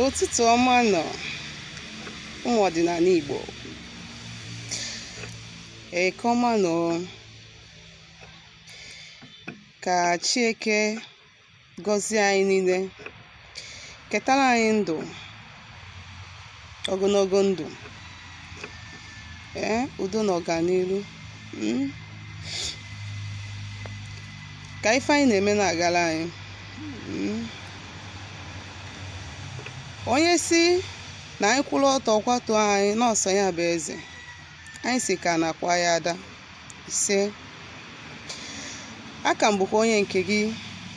ụtụtụ ọma nọ ụmụ ọdịnana Igbo eke ọma nọ ka Chieke gọzie anyị niile ketara anyị ndụ ogonogo ndụ ee udo na ọganiru mm. ka ife anyị na-eme na-agara anyị onye sị na anyị kwụrụ ọtọ ọ kwatuo anyị na ọ sọ ya bụ eze anyị sị ka ana kwaa ya ada ise aka m bụkwa onye nke gị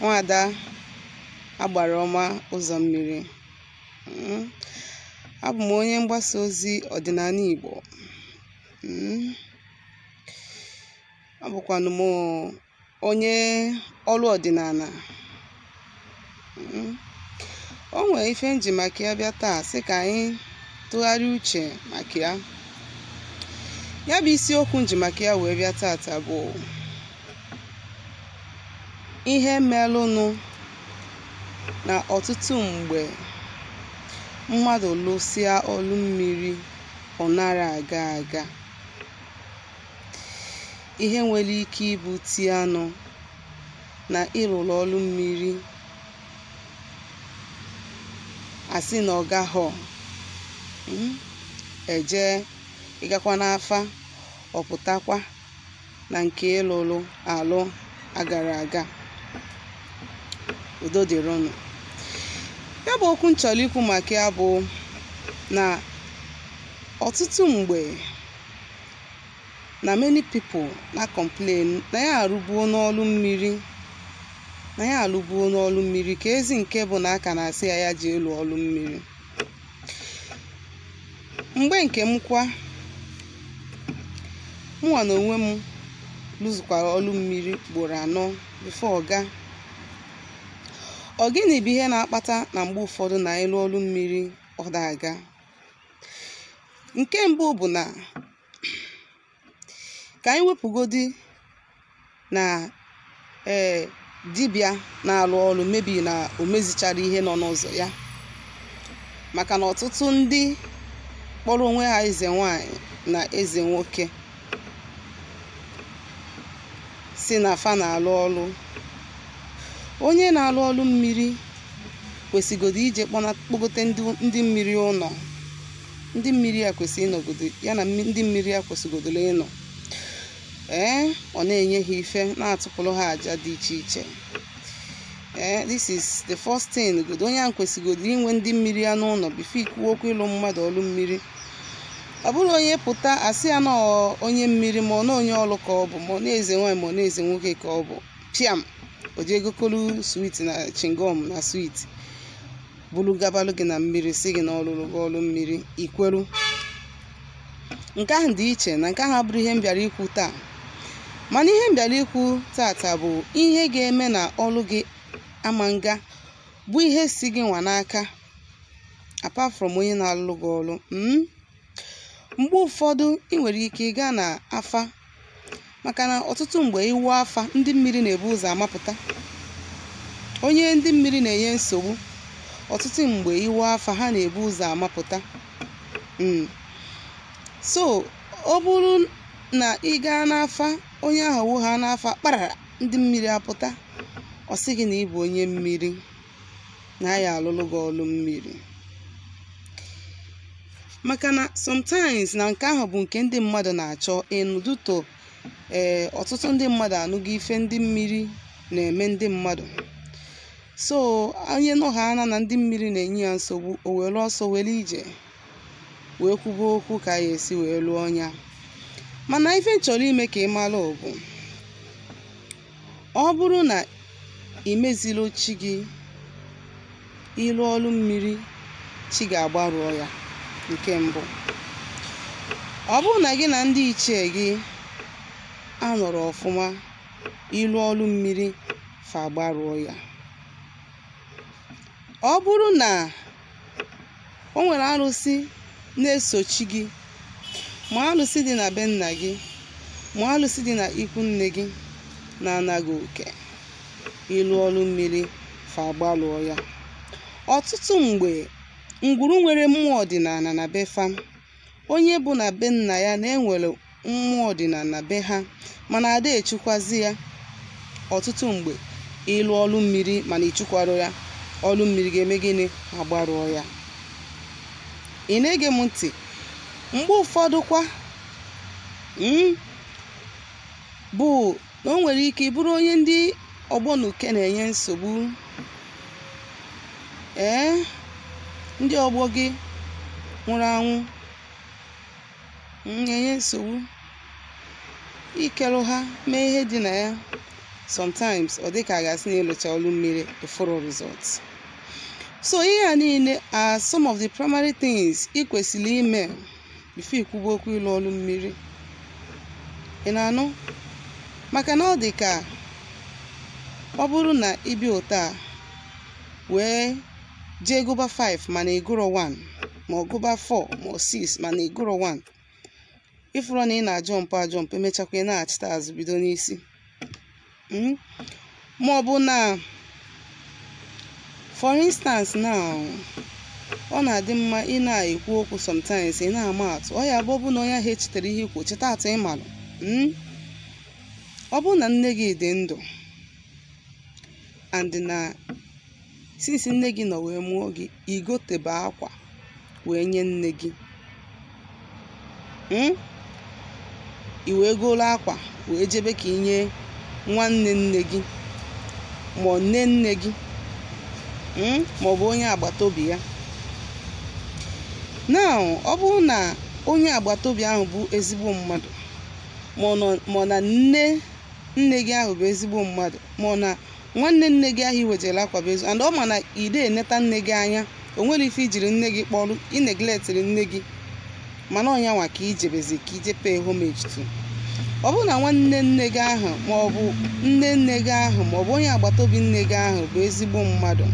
nwada agbara ọma ụzọ mmiri Mm. abụ m onye mgbasa ozi ọdịnana Igbo Mm. abụkwanụ m onye ọlụ ọdịnana Mm. o nwere ife m ji maka ya bịa taa sị ka anyị tụgharịa uche maka ya ya bụ isiokwu m ji maka ya wee bịa tata bụ ihe melụnụ na ọtụtụ mgbe mmadụ lụsịa ọlụ mmiri ọ nara aga aga ihe nwere ike ibute ya nụ na ị lụrụ ọrụ mmiri a sị na ọ gaghọ mm, eje ị gakwa n'afa ọ pụtakwa na nke ị lụrụ alụ agara aga udo dịrịnụ ya bụ okwu m chọrọ ikwu maka ya bụ na ọtụtụ mgbe na many people na-complain na ya arụbuo n'ọlụ mmiri na ya alụbuo n'ọlụ mmiri kezi nke bụ na a ka na-asị ya ya je lụọ ọlụ mmiri mgbe nke m kwa mụnwa na onwe m lụzụkwara ọlụ mmiri ugboro anọ before ọ gaa ọ gịnị bụ ihe na-akpata na mgbe ụfọdụ na ị lụọ ọlụ mmiri ọ da aga nke mbụ bụ na ka anyị wepụgodi na ee dibịa na-alụ ọrụ maybe na o mezichara ihe nọ n'ụzọ ya maka na ọtụtụ ndị kpọrọ onwe ha eze nwanyị na eze nwoke sị na fa na-alụ ọlụ onye na-alụ ọlụ mmiri kwesịgodo ije kpọna- kpọgote ndị ndị mmiri ụlọ ndị mmiri ya kwesị ịnọgodo ya na mmi- ndị mmiri ya kwesịgodoro ịnọ ee ọ na-enye ha ife na-atụpụrụ ha aja dị iche iche ee this is the first thing godo onye ahụ kwesịgodo inwe ndị mmiri ya n'ụlọ before i kwuo okwu ịlụ mmadụ ọlụ mmiri ọ bụrọ onye pụta asị ya na ọ onye mmiri ma ọ na onye ọlụ ka ọ bụ ma ọ na eze nwaanyị ma ọ na eze nwoke ka ọ bụ piam o jee gokolu sweet na chingom na sweet bulu gabalụ gị na mmiri sị gị na ọ lụlụ gị ọlụ mmiri i kweru nke ahụ dị iche na nke ahụ abụrọ ihe m bịara ikwu taa mana ihe m bịara ikwu tata bụ ihe ga-eme na ọlụ gị ama nga bụ ihe si gị nwa n'aka apart from onye na-alụlụ gị ọlụ mm? mgbe ụfọdụ ị nwere ike ịga na afa maka na ọtụtụ mgbe ị wụ afa ndị mmiri na-ebu ụzọ amapụta onye ndị mmiri na-enye nsogbu ọtụtụ mgbe ị wụ afa ha na-ebu ụzọ amapụta Mm. so ọ bụrụ na ị gaa n'afa onye ahụ wụ ha n'afa kparara ndị mmiri apụta ọ sị gị na ị bụ onye mmiri na ya alụlụ gị ọlụ mmiri maka na sometimes na nke ahụ bụ nke ndị mmadụ na-achọ ịnụdụto ee ọtụtụ ndị mmadụ anụgo ife ndị mmiri na-eme ndị mmadụ so onye nụ ha ana na ndị mmiri na-enye ya nsogbu o were ọsọ were ije wee kwuba okwu ka a ya-esi wee lụọ nya mana ife m chọrọ ime ka ị mara bụ ọ bụrụ na ị mezilọ chi gị ị lụọ ọrụ mmiri chi gị agbarụọ ya nke mbụ ọ bụrụ na gị na ndị ichie gị anọrọ ọfụma ị lụọ ọrụ mmiri fa agbarụọ ya ọ bụrụ na o nwere arụsị na-esochi gị ma alụsị dị na be nna gị ma alụsị dị na ikwu nne gị na-anaghị oke ị lụọ ọrụ mmiri fa agbalụọ ya ọtụtụ mgbe ngwuru nwere mmụọ ọdịnala na be fa onye bụ na be nna ya na e nwere mmụọ ọdịnana be ha mana ada echukwazi ya ọtụtụ mgbe ị lụọ ọlụ mmiri mana i chukwarọ ya ọlụ mmiri ga-eme gịnị agbarụọ ya ị na-ege m ntị mgbe ụfọdụ kwa mm, bụ na o nwere ike ịbụrụ onye ndị ọgbọ na uke na-enye nsogbu ee ndị ọgbọ gị nwụrụ anwụ na-enye nsogbu ikelụ ha mee ihe dị na ya sometimes ọ dị ka a ga-asị na ị lụcha ọrụ mmiri eforo results so ihe a niile are some of the primary things ị kwesịrị ime before i kwuba okwu ịlụ ọrụ mmiri ị na-anụ maka na ọ dị ka ọ bụrụ na ị bịa ụta a wee jee gụba 5 mana ị gụrọ 1 ma ọ gụba 4 ma ọ 6 mana ị gụrọ 1 ị fụrụ na ị na-ajump ajump emechakwa ị nachita azụ bido n'isi Mm. ma ọ bụ na for instance now ọ na-adị mma ị na-ekwu okwu sometimes ị na-ama atụ ọ ya bụ ọ bụ na onye ahụ echetarọ ihe i kwu cheta atụ ị malụ Mm. ọ bụ na nne gị dị ndụ and na since nne gị nọ wee mụọ gị i gotebe akwa wee nye nne gị mm? i wee goro akwa wee jebe ka i nye nwanne nne gị ma ọ nne nne gị mm? ma ọ bụ onye agbata obi ya now ọ bụrụ na onye agbata obi ahụ bụ ezigbo mmadụ ma ọ nọ- ma ọ na nne nne gị ahụ bụ ezigbo mmadụ ma ọ na nwanne nne gị ahụ i wejere akwa bụ ezi and ọ ma na i de eneta nne gị anya o nwerọ ife i jiri nne gị kpọrọ ị neglectịrị nne gị mana ọ nya nwa ka i jebezi ka i je pay homage to ọ bụrụ na nwanne nne gị ahụ ma ọ bụ nne nne gị ahụ ma ọ bụ onye agbata obi nne gị ahụ bụ ezigbo mmadụ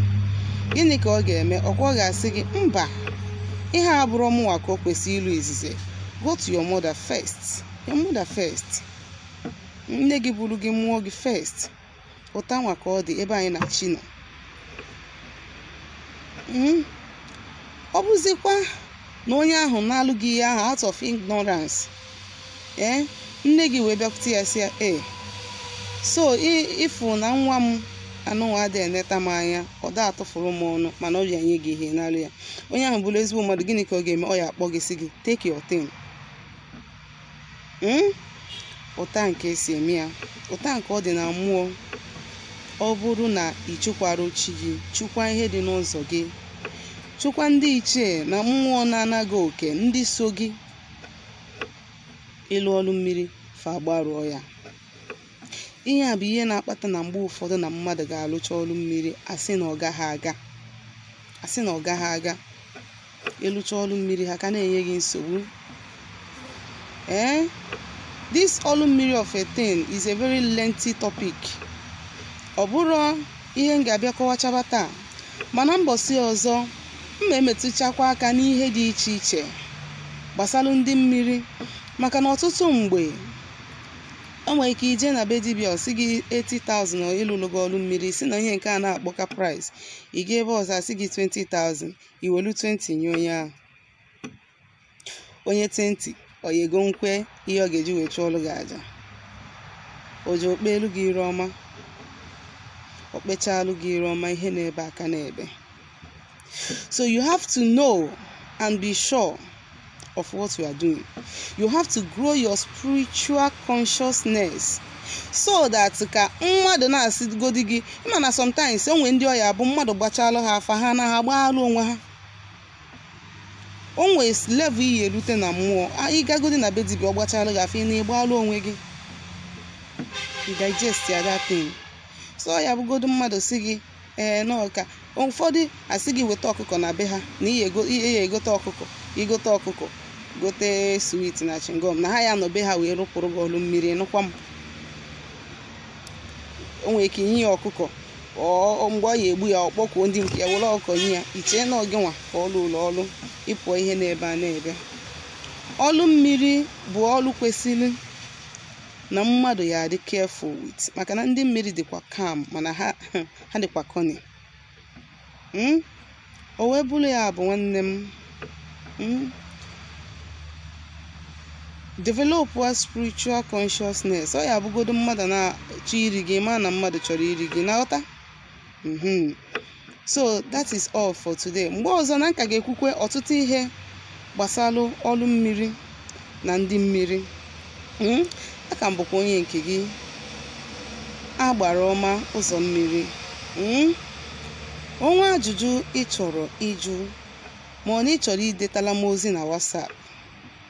gịnị ka ọ ga-eme ọ kwa ọ ga-asị gị mba ihe a abụrọ mụnwa ka o kwesịrị ilu izizi go to your mother first your mother first nne gị buru gị mụọ gị first ụta nwa ka ọ dị ebe anyị na chi nọ Mhm. ọ bụzikwa na onye ahụ nalụ gị ihe ahụ out of ignorance ee nne gị wee bịakwute ya sị ya ee so i- ị fụ na nwa m anụnwa adịghị eneta m anya ọ da atụfụrụ m ọnụ mana ọ bịa nye gị ihe ị nalụ ya onye ahụ bụrụ ezigbo mmadụ gịnị ka ọ ga-eme ọ ya akpọ gị sị gị take your thing Mm? ụta nke e si eme ya ụta nke ọ dị na mmụọ ọ bụrụ na ị chụkwarọ chi gị chụkwa ihe dị n'ụzọ gị chụkwa ndị ichie na mmụọ na-ana gị oke ndị so gị ị lụọ ọrụ mmiri fa agbarụọ ya ihe a bụ ihe na-akpata na mgbe ụfọdụ na mmadụ ga-alụcha ọrụ mmiri a sị na ọ gaghị aga a sị na ọ gaghị aga ị lụcha ọlụ mmiri ha ka na-enye gị nsogbu ee this ọlụ mmiri of a thing is a very lengthy topic ọ bụrọ ihe m ga-abịa kọwachaba taa mana mbọsị ọzọ m ma-emetụchakwa aka n'ihe dị iche iche gbasara ndị mmiri maka na ọtụtụ mgbe o nwere ike i je na be dibịa ọ sị gị 80,000 ịlụlụ gị ọlụ mmiri si na ihe nke a na-akpọka price ị ga ebe ọzọ a sị gị 20,000 i welu 20 nye onye ahụ onye 20 oyego nkwe ihe ọ ga-eji wee chụọlụ gị aja o je kpeelu gị iru ọma o kpechaalụ gị iru ọma ihe na-ebe aka na-ebe so you have to know and be sure of what you are doing. You have to grow your spiritual consciousness so that ka mmadụ na-asịgodi gị ị ma na sometimes o nwe ndị ọ ya-abụ mmadụ gbachaalụ ha afa ha na ha gbaalụ onwe ha o nwe level ị ya-erute na mmụọ ị gagodi na be dibịa ọ gbachaalụ gị afa ị na-agbalụ onwe gị digest ya that thing so ọ ya-abụgodu mmadụ sị gị ee n'ọka ụfọdụ asị gị weta ọkụkọ na be ha na ị ya-egote ọkụkọ i gote ọkụkọ gote sweet na chewing gum na ha ya-anọ be ha wee lụpụlụ gị ọlụ mmiri nụkwa m o nwere ike i nye ya ọkụkọ mgbe ọ ya-egbu ya ọ kpọkuo ndị nke ya were ọkụkọ nye ya i chee na ọ gịnwa ka ọ lụụlụ ọlụ ị pụọ ihe na-ebe a na-ebe ọlụ mmiri bụ ọlụ kwesịrị na mmadụ ya-adị careful with maka na ndị mmiri dịkwa calm mana ha ha dịkwa cunny Mm? o wee bụrụ ya bụ nwanne m Mm? develop a spiritual consciousness ọ ya-abụgodo mmadụ na-achọ iri gị ma na mmadụ chọrọ iri gị na-aghọta mhm. so that is all for today mgbe ọzọ na m ka ga-ekwukwe ọtụtụ ihe gbasara ọrụ mmiri na ndị mmiri hmm? a ka m bụkwa onye nke gị Agbara Ọma Ụzọ Mmiri hmm? o nwee ajụjụ ị chọrọ ịjụ ma ọ na ị chọrọ idetala m ozi na WhatsApp